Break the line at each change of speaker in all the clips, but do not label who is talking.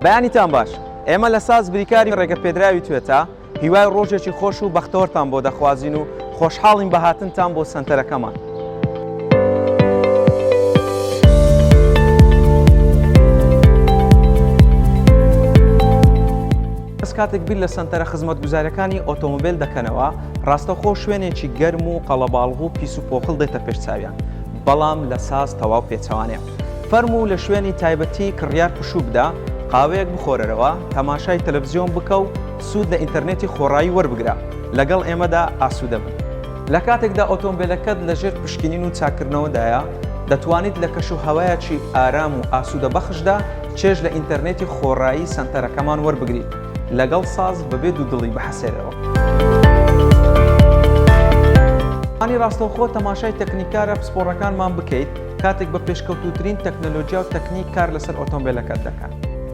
بەیانیتان باش ئێمە لە ساز بریکاری ڕێگە پێدراوی توێتا هیوای ڕۆژێکی خۆش و بەختەوەرتان بۆ دەخوازین و خۆشحاڵین بەهاتنتان بۆ سنتەرەکەمان. کاتێک بیر لە سنتەرە خزمەت گوزارەکانی ئۆتۆمبیل دەکەنەوە ڕاستەخۆ شوێنێکی گەرم و قەڵەباڵغ و پیس و پۆخڵ دێتە پێش چاویان بەڵام لە ساز تەواو پێچەوانەیە. فەرموو لە شوێنی تایبەتی کڕیار پشوو بدە، قاوەیەک بخۆرەرەوە، تەماشای تەلەفزیۆن بکە و سوود لە ئینتەرنێتی خۆڕایی وەربگرە. لەگەڵ ئێمەدا ئاسوودە بن. لە کاتێکدا ئۆتۆمبێلەکەت لە ژێر پشکنین و چاککردنەوەدایە، دەتوانیت لە کەشوهەوایەکی ئارام و ئاسوودەبەخشدا چێژ لە ئینتەرنێتی خۆڕایی سەنتەرەکەمان وەربگریت. لەگەڵ ساز بەبێ دوودڵی بحەسێنەوە. ئەزموونی ڕاستەوخۆ تەماشای تەکنیکارە پسپۆڕەکانمان بکەیت کاتێک بە پێشکەوتووترین تەکنەلۆجیا و تەکنیک کار لەسەر ئۆتۆمبێلەکەت دەکەن.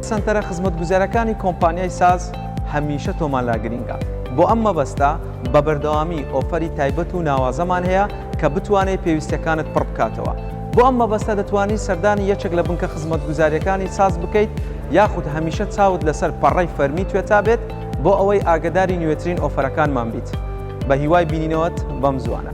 سەنتەرە خزمەتگوزارەکانی کۆمپانیای ساز هەمیشە تۆمان لا گرینگە. بۆ ئەم مەبەستە بە بەردەوامی ئۆفەری تایبەت و ناوازەمان هەیە کە بتوانێت پێویستیەکانت پڕ بکاتەوە. بۆ ئەم مەبەستە دەتوانیت سەردانی یەکێک لە بنکە خزمەتگوزاریەکانی ساز بکەیت، یاخود هەمیشە چاوت لەسەر پەڕەی فەرمی توێتا بێت بۆ ئەوەی ئاگەداری نوێترین ئۆفەرەکانمان بیت بە هیوای بینینەوەت بەم زوانە.